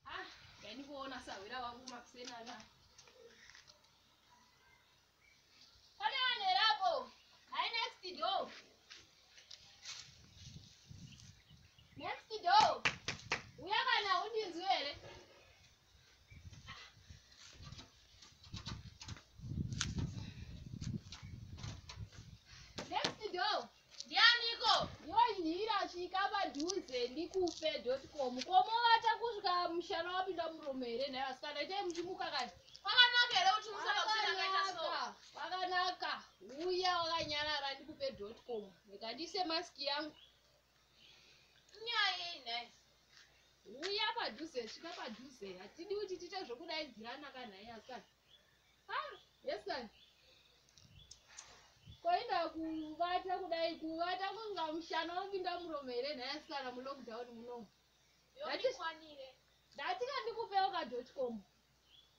Ah, yani kuona sahwira wangu makuseni ana. Pane vanhu here apo? Hi next door. Next door. Uya kana undinzwi here? ndianiko iwe nhira svika padhuze ndikupe dotcom komovata kusvika mushana wapinda murume here nhai vasikana itai muchimuka kani kwakanaka here kuti musana kusinakaita so kwakanaka uya wakanyarara ndikupe dotcom rega ndiise maski yangu nyaya nhai uya padhuze svika padhuze hatidi kuti tiite zvokudaidzirana kanhai asikana koenda kuvata kudai kuvata kunga mushana wopinda muromo here nhaya sikana mulockdown munomu ndatika ndikupewo kadotcom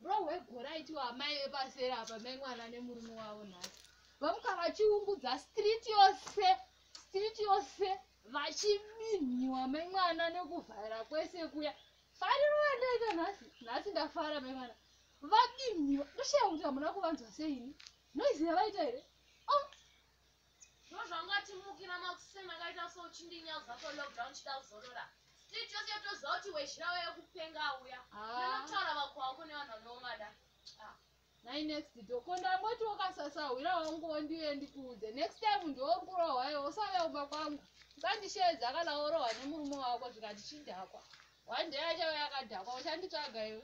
bro wegora itiwo amai vepasera apa mai mwana nemurume wavo nhasi vamuka vachiungudza street yose street yose vachibinhiwa mai mwana nekuvhara kwese kuya fariro yandaita nhasi nhasi ndafara mai mwana Vadini? Ndoshaya kuti hamuna kuvanzwa seini. Noise yavaita here? Oh. Ndozvanga timukira makusema kaita so uchindinyauza ko lockdown chida kuzorora. Street yose yotoziva kuti wezhira waya kupenga auya. Ndinotaura ah. vako wako nevanhu vanovangada. Ah. Nai next door. Ko ndamboti wakasasa hwira wangu wondiuye ndikuudze. Next time ndiokurohwa iwe usave umba kwangu. Usandisheedza kana worohwa nemurume wako zvikati chidhakwa. One day achave akadhakwa uchanditsvaga iwe.